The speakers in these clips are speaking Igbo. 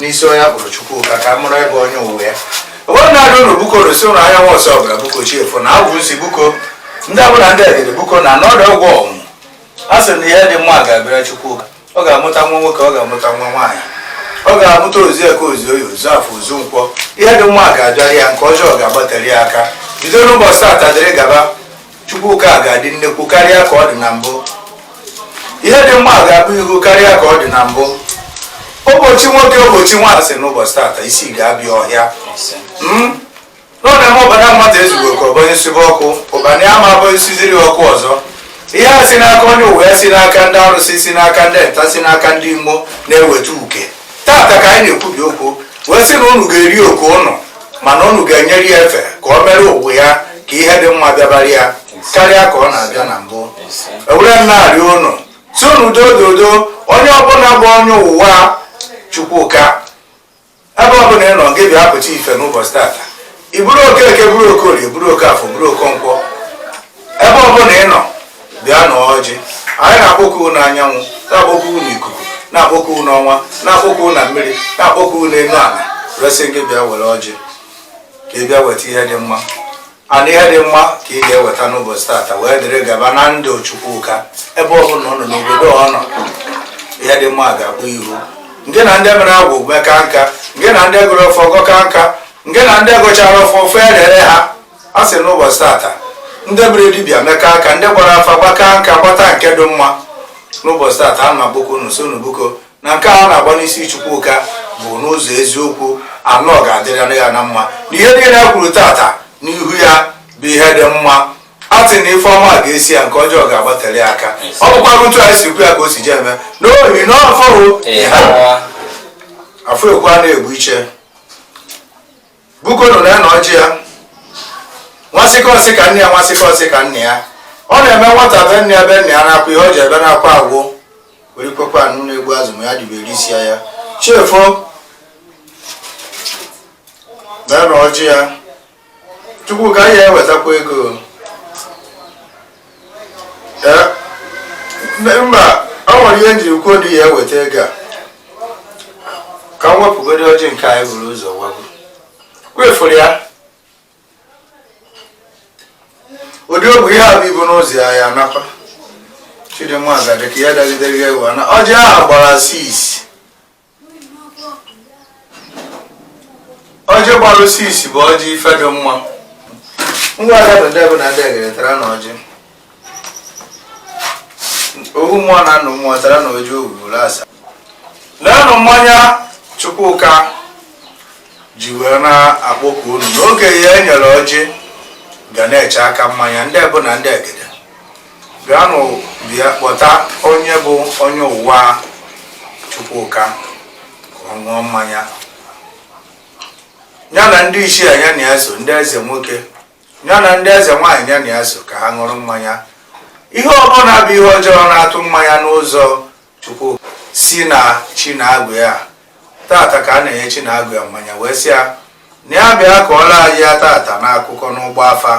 n'isi onye bụrụ Chukwuka ka mụrụ ebe onye ụwa ya onwe na-adị ụlọ buko arụsị ụlọ ahịa nwa ọsọ ọbụla buko chiefu na agwụ nsi buko ndị abụla ndị edere buko na n'ọdụ ọgwụ ọnwụ a sị na ihe dị mma ga-abịara Chukwuka ọ ga-amụta nwa nwoke ọ ga-amụta nwa nwaanyị ọ ga-amụta ozi eke ozi oye ozu afọ ozu nkwọ ihe dị mma ga-abịara ya nke ọjọọ ga-agbatara ya aka bido n'ụbọchị taata dịrị gaba Chukwuka ga-adị nnekwu karịa ka ọ dị na mbụ ihe dị mma ga-abụ ihu karịa ka ọ dị na mbụ ụbọchị nwoke ụbọchị nwaanyị n'ụbọchị tata isi ga-abịa ọhịa hmm? n'ọna m ụbana mmadụ ezugbo ka ọbanye sụba ọkụ ụbana ya ma abụghị siziri ọkụ ọzọ ihe a si n'aka onye ụwa ya si n'aka ndị arụsị si n'aka ndị nta si n'aka ndị imo na-eweta uke tata ka anyị na-ekwubi okwu wee sị na unu ga-eri oke unu mana unu ga-enyere ya efe ka ọ mere ụwa ya ka ihe dị mma bịabara ya karịa ka ọ na-abịa na mbụ ewere m na-arịọ unu sị unu doo doo onye ọbụla bụ onye ụwa Chukwuka ebe ọbụla ị nọ gị bịa pụta ife n'ụbọchị tata ị bụrụ Okeke bụrụ Okorie bụrụ Okafọ bụrụ Okonkwọ ebe ọbụla ị nọ bịa na ọjị anyị na-akpọku unu anyanwụ na-akpọku unu ikuku na-akpọku unu ọnwa na-akpọku unu mmiri na-akpọku unu elu ala resị gị bịa were ọjị ka ị bịa weta ihe dị mma na ihe dị mma ka ị ga-eweta n'ụbọchị tata wee dịrị gaba na ndụ Chukwuka ebe ọ bụla ọ nọ n'obodo ọ nọ ihe dị mma ga-akpụ ihu nke na ndị mere agwụ meka nka nke na ndị gọrọ ọfọ gọka nka nke na ndị gọchara ọfọ ọfọ elere ha a sị n'ụbọchị tata ndị mere dibịa meka nka ndị gbara afa gbaka nka gbata nke dị mma n'ụbọchị tata a na-akpọku unu sị unu bụko na nke a na-agba n'isi Chukwuka bụ n'ụzọ eziokwu na ọ ga-adịrị ya na mma na ihe niile a kwuru tata n'ihu ya bụ ihe dị mma a sị na ife ọma ga-eso ya nke ọjọọ ga-agbatara ya aka ọ bụkwa otu anyị si kwu ya ka o si je eme n'ihi na ọ bụ afụ ekwu a na-egbu ichie bukonu na na ọjị ya nwasịkọsị ka nne ya nwasịkọsị ka nne ya ọ na-eme nwata be nne ya be nne ya na-akwa ihe o ji ebe na-akwa agwụ were kwekwa anụ na-egbu azụ ma ya dibere isi ya chefu na na ọjị ya Chukwuka ya ewetakwa ego mba ọ nwere ihe m jiri kwuo na ya eweta ego a ka m wepụgodi ọjị nke anyị buru ụzọ wepụ wefụrụ ya ụdị ogbe ihe a bụ ibu n'ụzọ ya ya nakwa Chidimma agadi ka ya dagidere ya ewu na ọjị ahụ gbara sis ọjị gbalụ six bụ ọjị ife dị mma ngwa ada bụ ndị mbụ na ndị egede taranụ ọjị ohu mmụọ na nnụ mmụọ taranụ ọjị ohu ụlọ asaa leenụ mmanya chukwuka ji wee na-akpọku unu na okenye e nyere ọjị ga na-eche aka mmanya ndị mbụ na ndị egede bịanụ bịa kpọta onye bụ onye ụwa Chukwuka ka ọ ṅụọ mmanya ya na ndị isi ya na ya so ndị eze nwoke ya na ndị eze nwaanyị ya na ya so ka ha ṅụrụ mmanya ihe ọbụla bụ ihe ọjọọ na-atụ mmanya n'ụzọ Chukwu si na chi na agwụ ya tata ka a na-enye chi na agwụ ya mmanya wee sị ya na ya bịa kọọrọ anyị ya tata n'akụkọ n'ịgba afa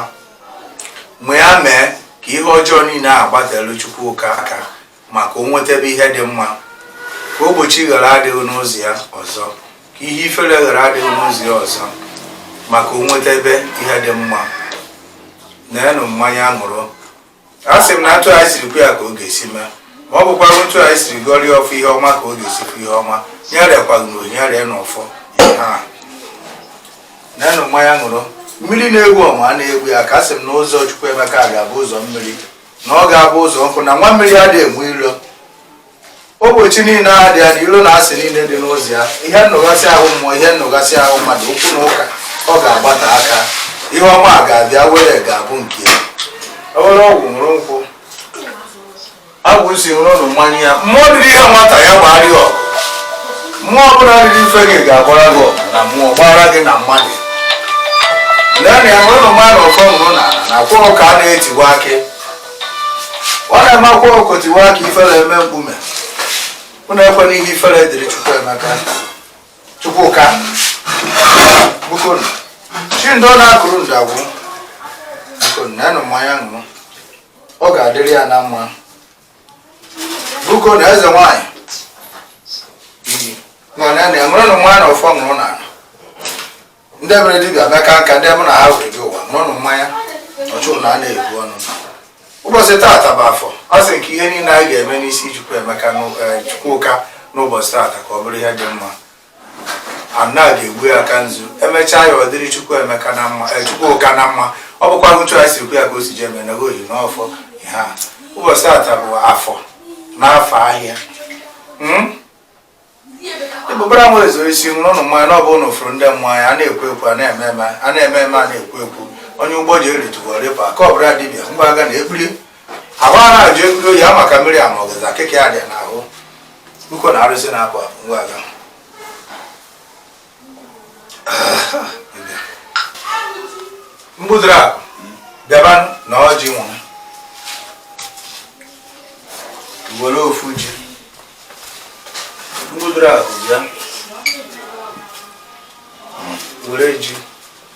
ma ya mee ka ihe ọjọọ niile a gbatelu Chukwuka aka maka o nwetebe ihe dị mma ka ogbochi ghara adị n'ụzọ ya ọzọ ka ihe ifere ghara adị n'ụzọ ya ọzọ maka o nwetebe ihe dị mma neenụ mmanya ṅụrụ a sị m na otu anyị siri kwu ya ka ọ ga-esi mee ma ọ bụkwa otu anyị siri gọrọ ya ọfọ ihe ọma ka ọ ga-esi fụ ihe ọma ya rekwara ya ree n'ọfọ neenụ mmanya ṅụrụ mmiri na-egwu ọma a na-egwu ya ka a sị m na ụzọ Chukwuemeka ga-abụ ụzọ mmiri na ọ ga-abụ ụzọ nkụ na nwa mmiri adịghị enwe ilo ogbochi niile dị ya na ilo na asị niile dị n'ụzọ ya ihe nnụgasị ahụ mmụọ ihe nnụgasị ahụ mmadụ okwu na ụka ọ ga-agbate aka ihe ọma ga-abịa were ga-abụ nke ya ewere ọgwụ ṅụrụ nkwụ agwụisi ṅụrụnụ mmanya ya mmụọ riri ihe nwata ya gbara ya ọgụ mmụọ ọbụla riri ife gị ga-agbara gị ọgụ na mmụọ gbara gị na mmadụ lee na ya ṅụrụnụ mmanya ọfọ ṅụrụ na na kwụrụ ka a na-etiwa akị ọ na-eme akwa ọkụkọ tiwaa akị ifere emee mkpume unu ekwena ihe ifere dịrị chukwu emeka chukwuka bikonu chi ndị ọ na-akụrụ ndị agwụ bikonu neenụ mmanya ṅụrụ ọ ga-adịrị ya na mma bikonu eze nwanyị mana na enwere na nwa na ọfọ ṅụrụ na ala ndị mere dibịa meka nka ndị mụ na ha were gị ụwa neenụ mmanya ọchụ na a na-eku unu ụbọchị taata bụ afọ a sị ka ihe niile anyị ga-eme n'isi Chukwu Emeka eh, Chukwuka n'ụbọchị taata ka ọ bụrụ ihe dị mma ana ga-egbu ya aka nzu emechaa ya ọ dịrị Chukwu Emeka na mma eh, Chukwuka na mma ọ bụkwa otu anyị siri kwu ya ka o si ji eme na oyi n'ọfọ ịhaa ụbọchị taata bụ afọ n'afọ ahịa hmm? ebubara nwa ezo isi nwụrụ ụnụ mmanya na ọ bụ ụnụ fụrụ ndị mmanya a na-ekwu ekwu a na-eme eme a na-eme eme a na-ekwu ekwu onye ugbo ji eritụwa rịpa ka ọ bụla dibịa ngwa aga na ekpiri ahụ a na-ajụ ekpiri oyi ama ka mmiri ama ọgazị akịka ya dị n'ahụ uko na arụsị na-apụ apụ ngwa aga mbudoro akụ bịaba na ọjị nwa were ofu ji mbudoro akụ bịa were ji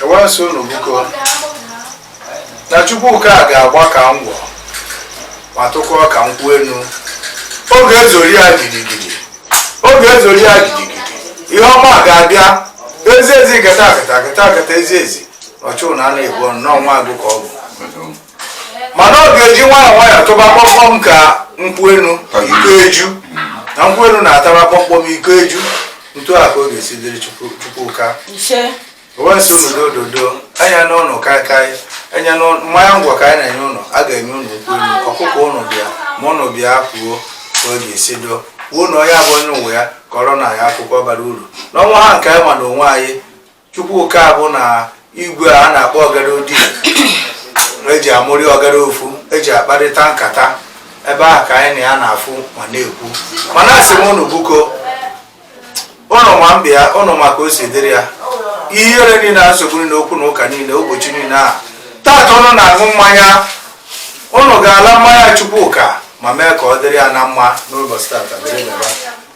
e wee sị unu biko na Chukwuka a ga-agba ka ngwọ ma tụkwuo ka nkwụ enu ọ ga-ezori ya gidigidi ọ ga-ezori ya gidigidi ihe ọma ga-abịa ezi ezi gata gata gata gata ezi ezi ọchụ na a na-ebu ọnụ n'ọnwa agụ ka ọ bụ mana ọ ga-eji nwayọọ nwayọọ tụba kpọmkpọm ka nkwụ enu iko eju na nkwụ enu na-ataba kpọmkpọm iko eju ntu a ka ọ ga-esi dịrị Chukwuka e wee sị unu dododo anya n'ụlọ kaikai anya mmanya ngwọ ka anyị na-enye ụnụ a ga-enye ụnụ nkwụ enu ọkụkọ ụnụ bịa ma ụnụ bịa kwuo ka ọ ga-esi doo wuo na onye abụ onye ụwa ya kọrọ na ya akwụkwọ bara uru n'onwe ha nke anyị ma na onwe anyị Chukwuka bụ na igwe a na-akpọ ọgara odi eji amụrị ọgara ofu eji akparịta nkata ebe ahụ ka anyị na ya na-afụ ma na-ekwu mana asị m unu buko ụnụ ma mbịa ụnụ ma ka o si dịrị ya ihere niile na nsogbu niile okwu na ụka niile ụbọchị niile a taata ụnụ na-aṅụ mmanya ụnụ ga-ala mmanya Chukwuka ma mee ka ọ dịrị ya na mma n'ụbọchị taata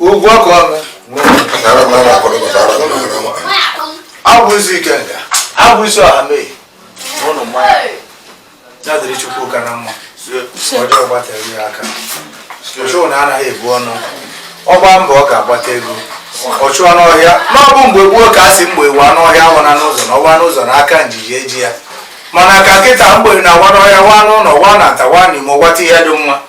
ugwu ọkụ ọnụ abụ isi ike nga abụ isi ọha mee ụnụ mmanya ya dịrị Chukwuka na mma ọjọọ gbatara ya aka ọchụ na anaghị ebu ọnụ ọ gbaa mbọ ọ ga-agbata ego ọ chụọ n'ọhịa na ọ bụ mgbe gboo ka a sị mgbe wa n'ọhịa wana n'ụzọ na ọ wa n'ụzọ na aka njiji eji ya mana ka kịta mgbe na wa n'ọhịa wa n'ụlọ wa na nta wa n'imo wata ihe dị mma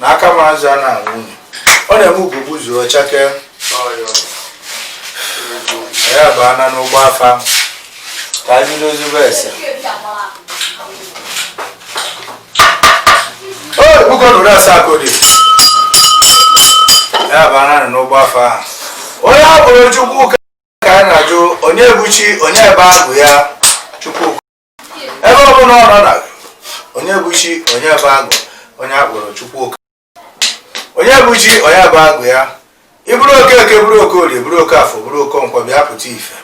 na aka m azụ a na-anwụ unyi ọ na-eme ugobu zuo chakee ya bana n'ụgbọ afa ka anyị bido ozugbo ese puku na ụdị asaa ka ọ dị ya bana nọ n'ụgbọ afa ahụ onye a bụrụ Chukwuka a na-ajụ onye bụ chi onye bụ agwụ ya chukwu ebe ọ bụla ọ nọ na onye bụ chi onye bụ agwụ onye a kpọrọ Chukwuka onye bụ chi onye bụ agwụ ya ị bụrụ Okeke bụrụ Okorie bụrụ oke afọ bụrụ oke nkwọ bịa pụta ife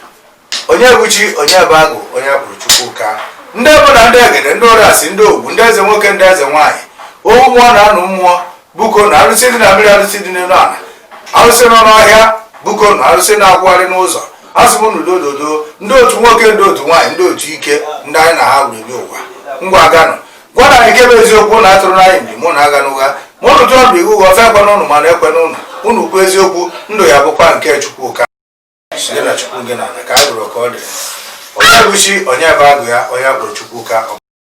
onye bụ chi onye bụ agwụ onye a kpọrọ Chukwuka ndị mbụ na ndị egede ndị arụsị ndị ọgwụ ndị eze nwoke ndị eze nwaanyị owu mmụọ na anụ mmụọ bikonu arụsị dị na mmiri arụsị dị n'elu ala arụsị nọ n'ọhịa bikonu arụsị na-akwụgharị n'ụzọ asị m unu dododo ndị otu nwoke ndị otu nwaanyị ndị otu ike ndị anyị na ha wuru nye ụwa ngwa ganụ gwanụ anyị nke bụ eziokwu na atụrụ anyị mgbe mụ na aga n'ụgha ma ụnụ tụọ ndụ iwu ụgha ofe ekwe n'ụnụ mana ekwe n'ụnụ ụnụ kwuo eziokwu ndụ ya bụkwa nke chukwu ka site na chukwu gị na ala ka a gụrụ ka ọ dị onye bụ chi onye bụ agwụ ya onye akpụrụ chukwu ka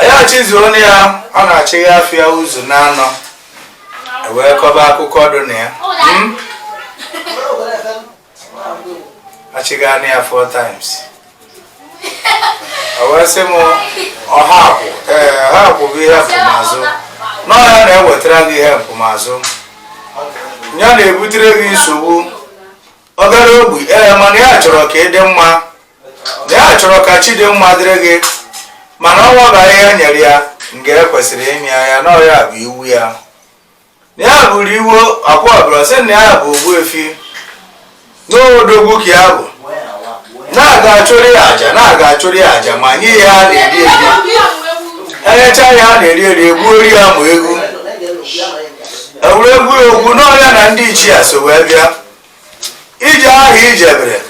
anyị achịzuo onye ya ọ na-achị ya afịa ụzọ naanọ wee kọba akụkọ dị na ya hmm? achịa ya four times wee sị m ọha akwụ ee ọha akwụ bụ ihe mpụmazụ n'ọhịa na-ewetara gị ihe mpụmazụ ya na-ebutere gị nsogbu ọkara ogbi ee mana ya chọrọ ka ị dị mma na ya chọrọ ka chi dị mma dịrị gị mana ọnwa bụ ahịhịa nyere ya nke e kwesịrị ịmị anya na ọya bụ iwu ya na ya bụrụ iwu akwa ọbụla sị na ya bụ ogbuefi n'odogwu ka ya bụ na-aga achụrụ ya aja na-aga achụrụ ya aja ma nye ya a na-eri eri enyecha ya a na-eri eri egwuori ya ma egwu egwuregwu egwu n'ọya na ndị ichie so wee bịa ije ahụ i jebere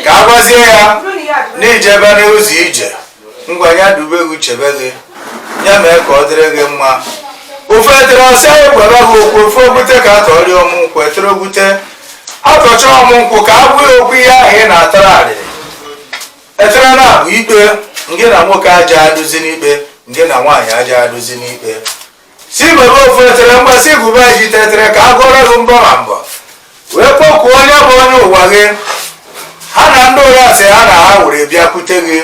ka a gwazie ya na i jebe n'ụzọ ije ngwa ya dube gị chebe gị ya mee ka ọ dịrị gị mma ofu etere ose ekwebe gị okwu ofu ogbute ka atọrị ọmụ nkwụ etere ogbute atọcha ọmụ nkwụ ka a gwa gị okwu ihe ahụ ị na-atara arịrị etere na-abụ ikpe ngị na nwoke aja adụzi n'ikpe ngị na nwaanyị aja adụzi n'ikpe si bebe ofu etere mgbe si gụba ijite etere ka a gụọrọ gị mbọ ma mbọ wee kpọkuo onye bụ onye ụwa gị ha na ndị ụrasị ha na ha were bịakwute gị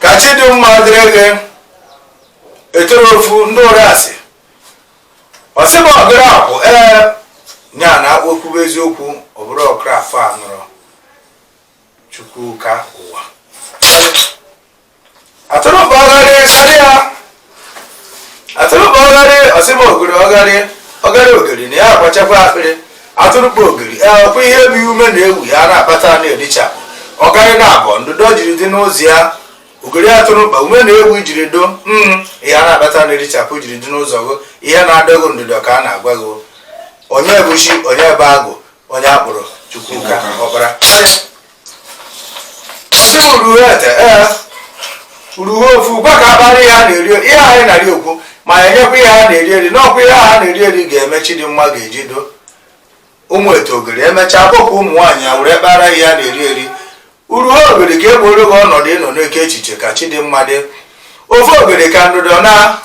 ka chi dị mma dịrị gị etere ofu ndị ụrasị ọsịba ọkara akwụ ee nya na okwu bụ eziokwu ọ bụrụ ọkra afọ a nụrụ chukwuka ụwa atụrụkpa ọgharị sọdị ya atụrụkpa ọgharị ọsịba ogiri ọgharị ọgharị ogiri na ya agbachakwa akpịrị atụrụkpa ogiri ekwe ihe bụ ume na-ewu ya na-akpata na-edichapụ ọgharị na-abụ ndụdọ jiri dị n'ụzọ ya ogiri atụrụkpa ume na-ewu jiri do mm, ihe a na-akpata na-edichapụ jiri dị n'ụzọ gị ihe na-adọ gị ndụdọ ka a na-agwa gị onye bụ chi onye bụ agwụ onye akpụrụ chukwuka ọkpara sị m uruhu ete ee uruhu ofu gwa ka a kpara ihe a na-eri ihe anyị na-eri okwu ma ya enyekwa ihe a na-eri eri n'ọkwa ihe a na-eri eri ga-eme chidimma ga-eji do ụmụ eto ogeri emechaa bụkwa ụmụ nwaanyị a were kpara ihe a na-eri eri uruhu ogeri ka e gburu gị ọnọdụ ịnọ n'oke echiche ka chidimma dị ofu ogeri ka ndụdọ na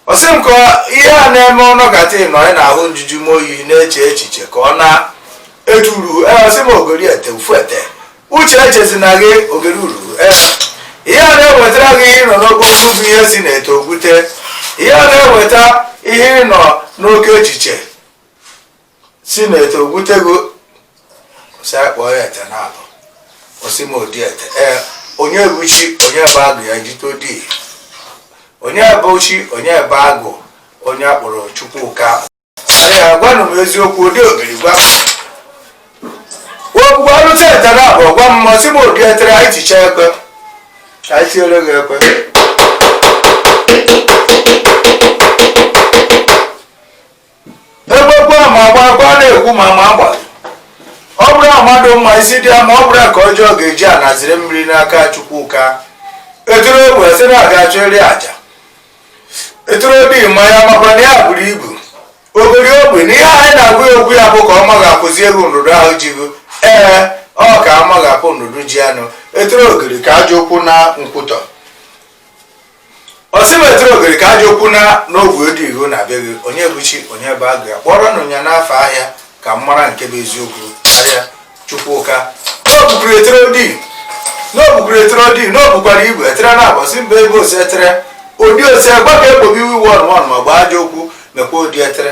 ọ sị m ka ihe a na-eme ọ nọkata ịnọ ị na-ahụ njuju m oyi na-eche echiche ka ọ na etu uruhu ọ sị m ogeri ete ofu ete uche echezina gị ogeri uruhu ihe a na-ewetara gị ihe ịnọ n'oke okwu bụ ihe si na eto ogbute ihe a na-eweta ihe ịnọ n'oke echiche si na eto ogbute gị ọ sị a kpọọ ya ete naabọ ọ sị m odi ete ee onye bụ chi onye bụ agwụ ya ijite odi onye bụ chi onye bụ agwụ onye a kpọrọ chukwuka ya gwanụ m eziokwu odi ogeri gwa ogwugwu arụta ete naabọ gwa m ọ sị m odi etere anyị ticha ekwe anyị tiere gị ekwe egbekwa ma agba agba na-ekwu ma ma agba ọ bụrụ mmadụ ma isi dị ya mma ọ bụrụ ka ọjọọ ga-eji anaziri mmiri n'aka chukwuka eturu obi sị na a ga-achọ eri aja eturu obi ma ya makwa na ya buru ibu ogeri obi na ihe anyị na-agwa ya okwu ya bụ ka ọ maghapụzi gị ndụdọ ahụ ji gị ee ọ ka a maghapụ ndụdọ ji anụ eturu ogeri ka ajọ okwu na nkwụtọ ọ sị m eturu ogeri ka ajọ okwu na n'ogwe dị ihu na be gị onye bụ chi onye bụ agwụ ya kpọrọnụ ya n'afa aha ka m mara nke bụ eziokwu karịa chukwuka n'obukwuru etere odi n'obukwuru etere odi n'obukwara igwe etere naabọ sị mba ebe ose etere odi ose gbaka egbobi iwu iwu ọnụmanụ ma gbaa ajọ okwu mekwa odi etere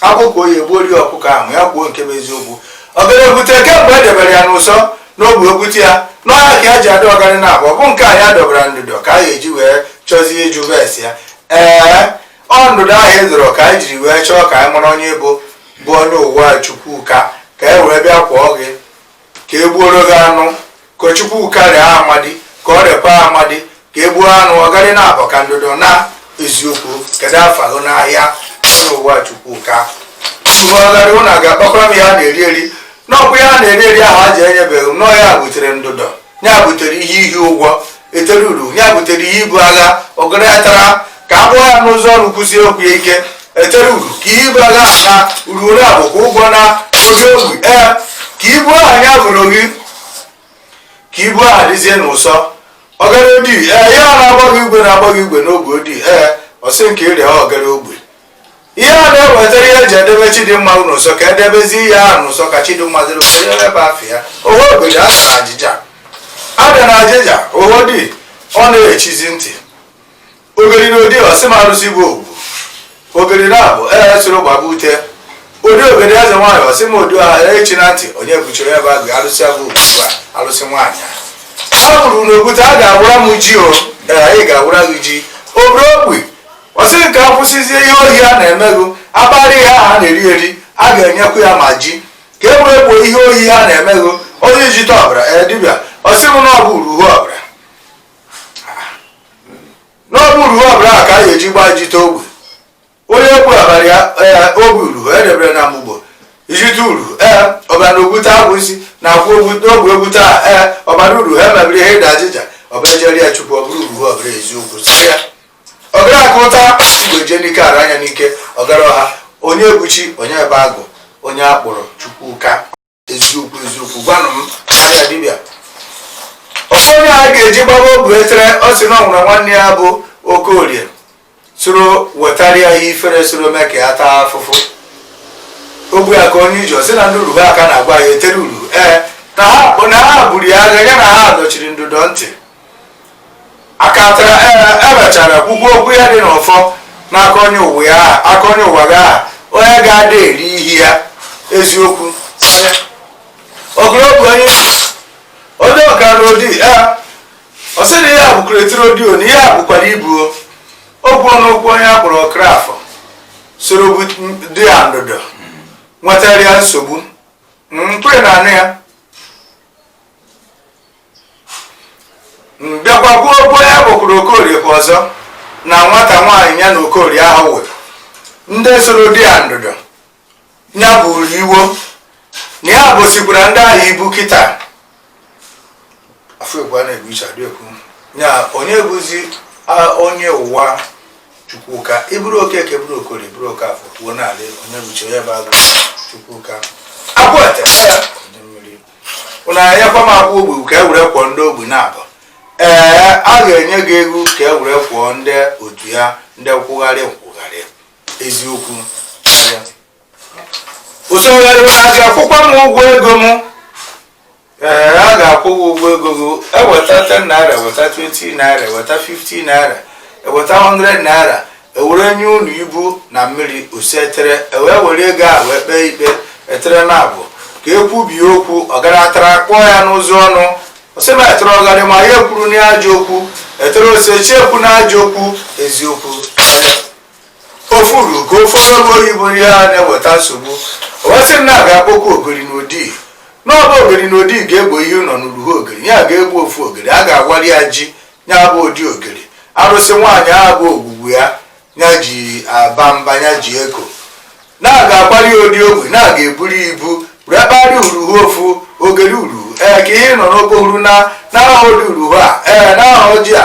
akpụkọ oyi egbuo ri ọkụkọ ahụ ya kwuo nke bụ eziokwu ogeri ogbute kemgbe e debere ya n'ụsọ n'ogbe ogbute ya n'ọhịa ka ya ji adị ọgarị naabọ bụ nke a ya dọbara ndụdọ ka a ga-eji wee chọzie ịjụ ese ya ee ọ ndụdọ ahụ e dọrọ ka anyị jiri wee chọọ ka anyị mara onye bụ bụ onye ụwa chukwuka ka e wee bịa kpọọ gị ka e gbuoro gị anụ ka chukwuka rie amadi ka o riekwa amadi ka e gbuo anụ ọgarị naabọ ka ndụdọ na eziokwu kedu afa gị n'aha onye ụwa chukwuka uruhu ọgarị ụna ga-akpakwara m ihe a na-eri eri n'ọkwa ihe a na-eri eri ahụ a ji enyebeghị m n'ọ ya butere ndụdọ ya butere ihe iji ụgwọ etere uruhu ya butere ihe ibu agha ogeri ya tara ka a kpụọ ya n'ụzọ ọrụ kwụsie okwu ya ike etere uruhu ka ihe ibu agha na uruhu naabọ ka ụgwọ na ogeri obi ee ka ibu ahụ ya bụrụ gị ka ibu ahụ dịzie n'ụsọ ogeri odi ee ya na-agbaghị igwe na-agbaghị igwe n'ogbe odi ee ọ sị nke ịrịa ogeri obi ihe a na-ewetara ihe eji edebe chidimma n'ụsọ ka edebezi ihe ahụ n'ụsọ ka chidimma dịrị ụsọ ya ebe afọ ya oho obodo a na ajịja abịa na ajịja oho dị ọ na-echizi ntị ogeri na odi ọ sị m arụsị bụ ogbu ogeri na abụ ee soro gbaba ute odi ogeri eze nwaanyị ọ sị m odi ọha echi na ntị onye buchiri ebe agụ arụsị abụ ogbu a arụsị nwaanyị a bụrụ na ogwute a ga-awara m ji o ee a ga-awara gị ji obere ogbi ọ sịrị ka a kwụsịzie ihe ohi a na-emego akpara ihe a na-eri eri a ga-enyekwu ya ma ji ka e wee gboo ihe ohi ha na-emego onye ijite ọbara ee dibịa ọ sị m na ọ bụ uruhu ọbara na ọ bụ uruhu ọbara a ka a ga-eji gbaa ijite ogbe onye egbu abara ya ee ogbe uruhu edebere na mgbugbo ijite uruhu ee ọbara ogwute abụ isi na akwụ ogwute ogbe ogwute a ee ọbara uruhu emebiri ihe ịda ajịja ọbara ejeri ya chukwu ọ bụrụ uruhu ọbara eziokwu sị ya ọgara aka ụta igwe jee n'ike ara anya n'ike ọgara ọha onye bụ chi onye bụ agụ onye a kpọrọ chukwuka eziokwu eziokwu gwanụ m anya dibịa ọsọ onye a ga-eji gbaba ogbe etere ọ sị na o nwere nwanne ya bụ okorie soro wetara ya ihe ifere soro mee ka ya taa afụfụ ogbe aka onye iji ọ sị na ndị uruhu aka na-agwa ya etere uruhu ee na ha buru ya agha ya na ha dọchiri ndụdọ ntị aka etere emechara e kwukwu okwu ya dị n'ọfọ n'aka onye ụwa ya aka onye ụwa gị aha onye ga-ada eri ihe ya eziokwu ogologo onye onye ọka n'odi ya ọ sị na ihe a bụkwa etere odi o na ihe a bụkwara ibuo okwu n'okwu onye a kpọrọ okorafọ soro dị ya ndụdọ nwetara ya nsogbu mkpụrụ na anụ ya mbịakwa gbuo ogbe ya bụkwuru okorie kwa ọzọ na nwata nwaanyị ya na okorie ahụ wụrụ ndị soro dị ya ndụdọ ya buru iwo na ya bụsikwara ndị ahụ ibu kịta afọ egwu a na-egwu iche adị ekwu ya onye bụzi onye ụwa chukwuka ịbụrụ okeke bụrụ okorie bụrụ okafọ kwuo n'ala onye bụ chi onye bụ agụ chukwuka agwata unu enyekwa m akwụ ogbe ka e were kwụọ ndị ogbe na-abụ ee a ga-enye gị ego ka e were kwụọ ndị otu ya ndị nkwụgharị nkwụgharị eziokwu usogharịwa a ga-akwụkwa m ụgwọ ego m ee a ga-akwụ gị ụgwọ ego gị eweta 10 naira eweta 20 naira eweta 50 naira eweta 100 naira e were nye unu ibu na mmiri ose etere e wee were ego a wee kpee ikpe etere na abụ ka e kwubie okwu ọgaratara kpọọ ya n'ụzọ ọnụ ọ sị na etere ọgarị ma ya ekwuru n'ajọ okwu etere ose chiekwu n'ajọ okwu eziokwu ofuru ka ofe ọrụ oyibo ihe a na-eweta nsogbu owesị m na-aga akpọkwa ogiri na odi na ọ bụ ogiri na odi ga-egbo ihe nọ n'uruhu ogiri ya ga-egbu ofu ogiri a ga-agwari ya ji ya bụ odi ogiri arụsị nwaanyị ahụ bụ ogwugwu ya ya ji aba mba ya ji eko na-aga akwari odi ogbe na-aga eburu ibu rekpari uruhu ofu ogiri uruhu ee ka ihe nọ n'okpohuru na n'aha odi uruhu a ee n'aha ojii a